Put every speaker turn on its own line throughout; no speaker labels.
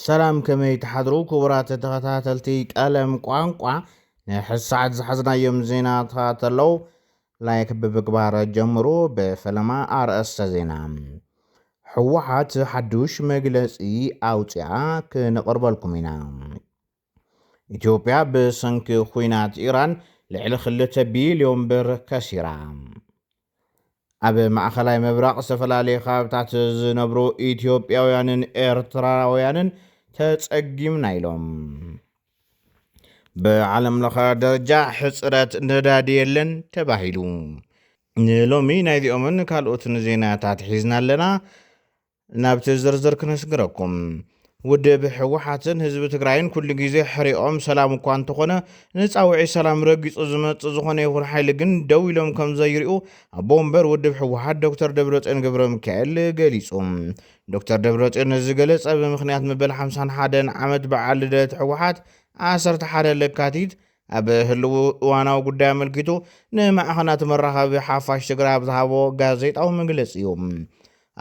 ሰላም ከመይ ትሓድሩ ክቡራት ተኸታተልቲ ቀለም ቋንቋ ናይ ሕዚ ሰዓት ዝሓዝናዮም ዜናታት ኣለው ላይክ ብምግባር ጀምሩ ብፈለማ ኣርእስተ ዜና ሕወሓት ሓዱሽ መግለፂ ኣውፅኣ ክንቕርበልኩም ኢና ኢትዮጵያ ብሰንኪ ኹናት ኢራን ልዕሊ ክልተ ቢልዮን ብር ከሲራ። ኣብ ማእኸላይ ምብራቕ ዝተፈላለዩ ከባብታት ዝነብሩ ኢትዮጵያውያንን ኤርትራውያንን ተፀጊምና ኢሎም። ብዓለም ለኸ ደረጃ ሕፅረት ነዳዲ የለን ተባሂሉ። ንሎሚ ናይዚኦምን ካልኦትን ዜናታት ሒዝና ኣለና። ናብቲ ዝርዝር ክንስግረኩም። ውድብ ህወሓትን ህዝቢ ትግራይን ኩሉ ግዜ ሕሪኦም ሰላም እኳ እንተኾነ ንፃውዒት ሰላም ረጊፁ ዝመፅእ ዝኾነ ይኹን ሓይሊ ግን ደው ኢሎም ከምዘይሪኡ ኣቦ ወንበር ውድብ ህወሓት ዶክተር ደብረፅዮን ገብረሚካኤል ገሊፁ። ዶክተር ደብረፅዮን ነዚ ዝገለፀ ብምኽንያት መበል ሓምሳን ሓደን ዓመት በዓል ልደት ህወሓት ዓሰርተ ሓደ ለካቲት ኣብ ህልዊ እዋናዊ ጉዳይ ኣመልኪቱ ንማዕኸናት መራኸቢ ሓፋሽ ትግራይ ኣብ ዝሃቦ ጋዜጣዊ መግለፂ እዩ።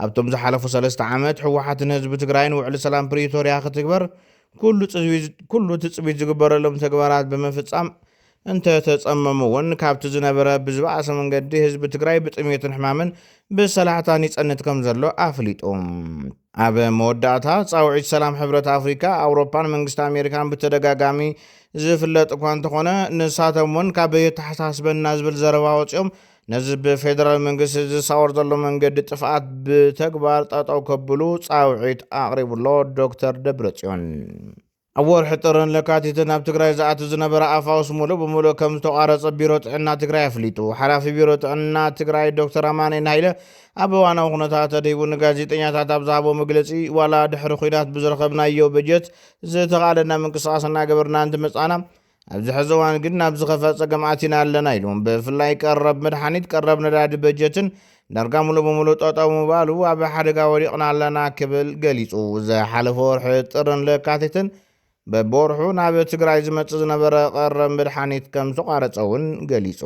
ኣብቶም ዝሓለፉ ሰለስተ ዓመት ህወሓትን ህዝቢ ትግራይን ውዕሊ ሰላም ፕሪቶርያ ክትግበር ኩሉ ትፅቢት ዝግበረሎም ተግባራት ብምፍፃም እንተተፀመሙ እውን ካብቲ ዝነበረ ብዝበኣሰ መንገዲ ህዝቢ ትግራይ ብጥሜትን ሕማምን ብሰላሕታን ይፀንት ከምዘሎ ኣፍሊጡ። ኣብ መወዳእታ፣ ጻውዒት ሰላም ሕብረት ኣፍሪካ፣ ኣውሮፓን መንግስቲ ኣሜሪካን ብተደጋጋሚ ዝፍለጥ እኳ እንተኾነ፣ ንሳቶም ውን ካብ የተሓሳስበና ዝብል ዘረባ ወጺኦም ነዚ ብፌደራል መንግስቲ ዝሳወር ዘሎ መንገዲ ጥፍኣት ብተግባር ጠጠው ከብሉ ጻውዒት ኣቕሪቡ ኣሎ ዶክተር ደብረጽዮን። ኣብ ወርሒ ጥርን ለካቲትን ኣብ ትግራይ ዝኣቱ ዝነበረ ኣፋውስ ሙሉእ ብሙሉእ ከም ዝተቋረፀ ቢሮ ጥዕና ትግራይ ኣፍሊጡ። ሓላፊ ቢሮ ጥዕና ትግራይ ዶክተር ኣማኒኤል ሃይለ ኣብ እዋናዊ ኩነታት ኣድሂቡ ንጋዜጠኛታት ኣብ ዝሃቦ መግለፂ ዋላ ድሕሪ ኹናት ብዝረኸብናዮ በጀት ዝተኽኣለና ምንቅስቓስ እናገበርና እንትመፃና ኣብዚ ሕዚ እዋን ግን ናብ ዝኸፈ ፀገም ኣቲና ኣለና ኢሉ። ብፍላይ ቀረብ መድሓኒት፣ ቀረብ ነዳዲ፣ በጀትን ዳርጋ ሙሉእ ብሙሉእ ጠጠው ምባሉ ኣብ ሓደጋ ወዲቕና ኣለና ክብል ገሊፁ። ዝሓለፈ ወርሒ ጥርን ለካቲትን በብወርሑ ናብ ትግራይ ዝመፅእ ዝነበረ ቀረብ መድሓኒት ከምዝተቋረፀ እውን ገሊፁ።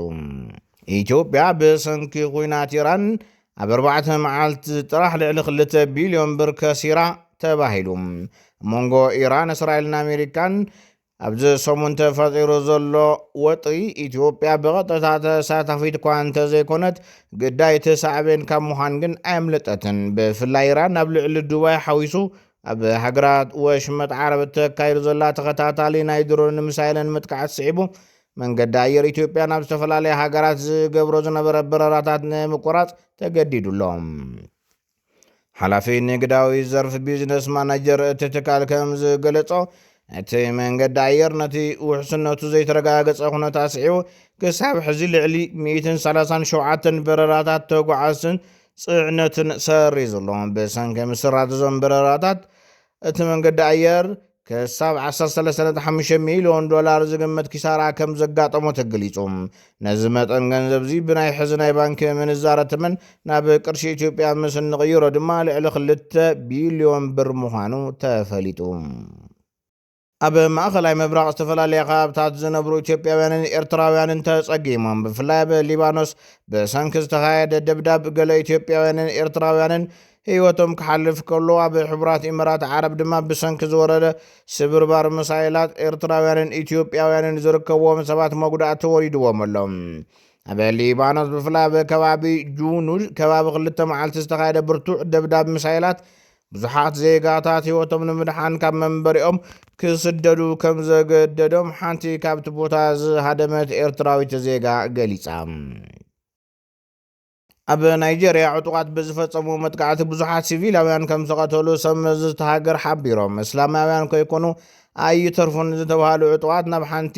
ኢትዮጵያ ብሰንኪ ኹናት ኢራን ኣብ ኣርባዕተ መዓልቲ ጥራሕ ልዕሊ ክልተ ቢልዮን ብር ከሲራ ተባሂሉ። ኣብ መንጎ ኢራን፣ እስራኤልን ኣሜሪካን ኣብዚ ሰሙን ተፈጢሩ ዘሎ ወጥሪ ኢትዮጵያ ብቐጥታ ተሳታፊት እኳ እንተዘይኮነት ግዳይቲ ሳዕቤን ካብ ምዃን ግን ኣየምለጠትን። ብፍላይ ኢራን ኣብ ልዕሊ ዱባይ ሓዊሱ ኣብ ሃገራት ወሽመጥ ዓረብ እተካይዶ ዘላ ተኸታታሊ ናይ ድሮንን ሚሳይልን ምጥቃዕት ስዒቡ መንገዲ ኣየር ኢትዮጵያ ናብ ዝተፈላለያ ሃገራት ዝገብሮ ዝነበረ በረራታት ንምቁራጽ ተገዲዱ ኣሎ። ሓላፊ ንግዳዊ ዘርፍ ቢዝነስ ማናጀር እቲ ትካል ከም ዝገለጾ እቲ መንገዲ ኣየር ነቲ ውሕስነቱ ዘይተረጋገጸ ኩነት ኣስዒቡ ክሳብ ሕዚ ልዕሊ 137 በረራታት ተጓዓዝትን ጽዕነትን ሰሪዙ ኣሎ። ብሰንኪ ምስራዝ እዞም በረራታት እቲ መንገዲ ኣየር ክሳብ ዓሰርተ ሰለስተ ነጥቢ ሓሙሽተ ሚልዮን ዶላር ዝግመት ኪሳራ ከም ዘጋጠሞ ተገሊጹ። ነዚ መጠን ገንዘብ'ዚ ብናይ ሕዚ ናይ ባንኪ ምንዛረ ተመን ናብ ቅርሺ ኢትዮጵያ ምስ እንቕይሮ ድማ ልዕሊ ክልተ ቢልዮን ብር ምዃኑ ተፈሊጡ። ኣብ ማእኸላይ ምብራቕ ዝተፈላለየ ከባብታት ዝነብሩ ኢትዮጵያውያንን ኤርትራውያንን ተጸጊሞም። ብፍላይ ኣብ ሊባኖስ ብሰንኪ ዝተኻየደ ደብዳብ ገለ ኢትዮጵያውያንን ኤርትራውያንን ህይወቶም ክሓልፍ ከሎ፣ ኣብ ሕቡራት ኢመራት ዓረብ ድማ ብሰንኪ ዝወረደ ስብርባር ምሳይላት፣ ኤርትራውያንን ኢትዮጵያውያንን ዝርከብዎም ሰባት መጉዳእቲ ወሪድዎም ኣሎ። ኣብ ሊባኖስ ብፍላይ ኣብ ከባቢ ጁኑድ ከባቢ ክልተ መዓልቲ ዝተኻየደ ብርቱዕ ደብዳብ ምሳይላት ብዙሓት ዜጋታት ህይወቶም ንምድሓን ካብ መንበሪኦም ክስደዱ ከም ዘገደዶም ሓንቲ ካብቲ ቦታ ዝሃደመት ኤርትራዊት ዜጋ ገሊጻ። ኣብ ናይጀርያ ዕጡቓት ብዝፈጸምዎ መጥቃዕቲ ብዙሓት ሲቪላውያን ከም ዝቐተሉ ሰብ መዚ እታ ሃገር ሓቢሮም። እስላማውያን ከይኮኑ ኣይተርፉን ዝተብሃሉ ዕጡቓት ናብ ሓንቲ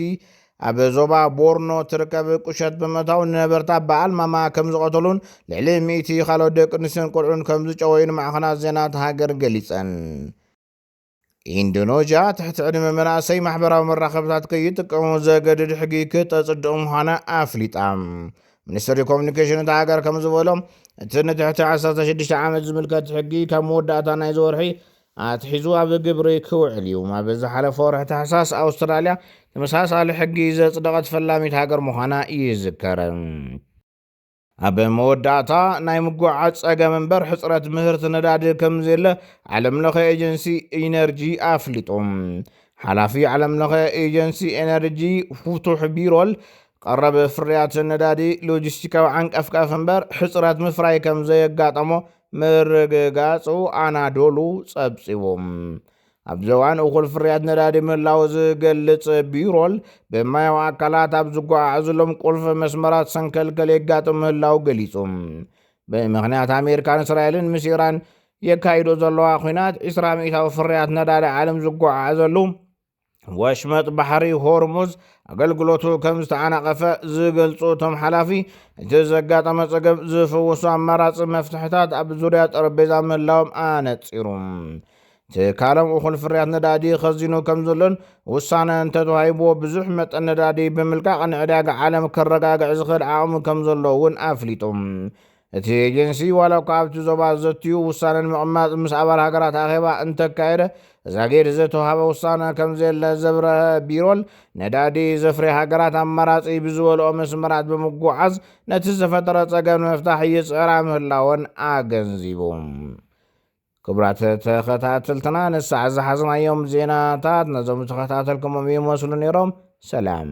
ኣብ ዞባ ቦርኖ ትርከብ ቁሸት ብምእታው ንነበርታ ብኣልማማ ከም ዝቐተሉን ልዕሊ ሚእቲ ካልኦት ደቂ ኣንስትዮን ቆልዑን ከም ዝጨወዩን ማዕኸናት ዜና እታ ሃገር ገሊጸን። ኢንዶኖዥያ ትሕቲ ዕድመ መናእሰይ ማሕበራዊ መራኸብታት ከይጥቀሙ ዘገድድ ሕጊ ክተጽድቕ ምዃና ኣፍሊጣ። ሚኒስትሪ ኮሚኒኬሽን እታ ሃገር ከም ዝበሎ እቲ ንትሕቲ 16 ዓመት ዝምልከት ሕጊ ካብ መወዳእታ ናይዚ ወርሒ ኣትሒዙ ኣብ ግብሪ ክውዕል እዩ። ኣብ ዝሓለፈ ወርሒ ታሕሳስ ኣውስትራልያ ተመሳሳሊ ሕጊ ዘጽደቐት ፈላሚት ሃገር ምዃና ይዝከር። ኣብ መወዳእታ፣ ናይ ምጉዕዓዝ ጸገም እምበር ሕጽረት ምህርቲ ነዳዲ ከምዘየለ ዓለምለኸ ኤጀንሲ ኢነርጂ ኣፍሊጡ። ሓላፊ ዓለምለኸ ኤጀንሲ ኤነርጂ ፉቱሕ ቢሮል፣ ቀረብ ፍርያት ነዳዲ ሎጂስቲካዊ ዓንቀፍቀፍ እምበር ሕጽረት ምፍራይ ከምዘየጋጠሞ ምርግጋጹ ኣናዶሉ ጸብጺቡ። ኣብዚ እዋን እኹል ፍርያት ነዳዲ ምህላው ዝገልጽ ቢሮል ብማያዊ ኣካላት ኣብ ዝጓዓዓዝሎም ቁልፊ መስመራት ሰንከልከል የጋጥም ምህላው ገሊጹ። ብምኽንያት ኣሜሪካን እስራኤልን ምስ ኢራን የካይዶ ዘለዋ ኩናት ዒስራ ሚእታዊ ፍርያት ነዳዲ ዓለም ዝጓዓዓዘሉ ወሽመጥ ባሕሪ ሆርሙዝ ኣገልግሎቱ ከም ዝተዓናቐፈ ዝገልጹ እቶም ሓላፊ እቲ ዘጋጠመ ጸገም ዝፍውሱ ኣማራፂ መፍትሕታት ኣብ ዙርያ ጠረጴዛ ምህላዎም ኣነጺሩ። ትካሎም እኹል ፍርያት ነዳዲ ኸዚኑ ከም ዘሎን ውሳነ እንተተዋሂብዎ ብዙሕ መጠን ነዳዲ ብምልቃቕ ንዕዳጋ ዓለም ከረጋግዕ ዝኽእል ዓቕሚ ከም ዘሎ እውን ኣፍሊጡ። እቲ ኤጀንሲ ዋላ እኳ ኣብቲ ዞባ ዘትዩ ውሳነ ንምቕማጥ ምስ ኣባል ሃገራት ኣኼባ እንተካየደ ዛጊድ ዝተውሃበ ውሳነ ከም ዘየለ ዘብረሀ ቢሮል ነዳዲ ዘፍርያ ሃገራት ኣማራፂ ብዝበልኦ መስመራት ብምጉዓዝ ነቲ ዝተፈጠረ ፀገም ንምፍታሕ ይፅዕራ ምህላወን ኣገንዚቡ። ክብራት ተኸታተልትና ንሳዕ ዝሓዝናዮም ዜናታት ነዞም ዝተኸታተልኩሞም ይመስሉ ነይሮም ሰላም።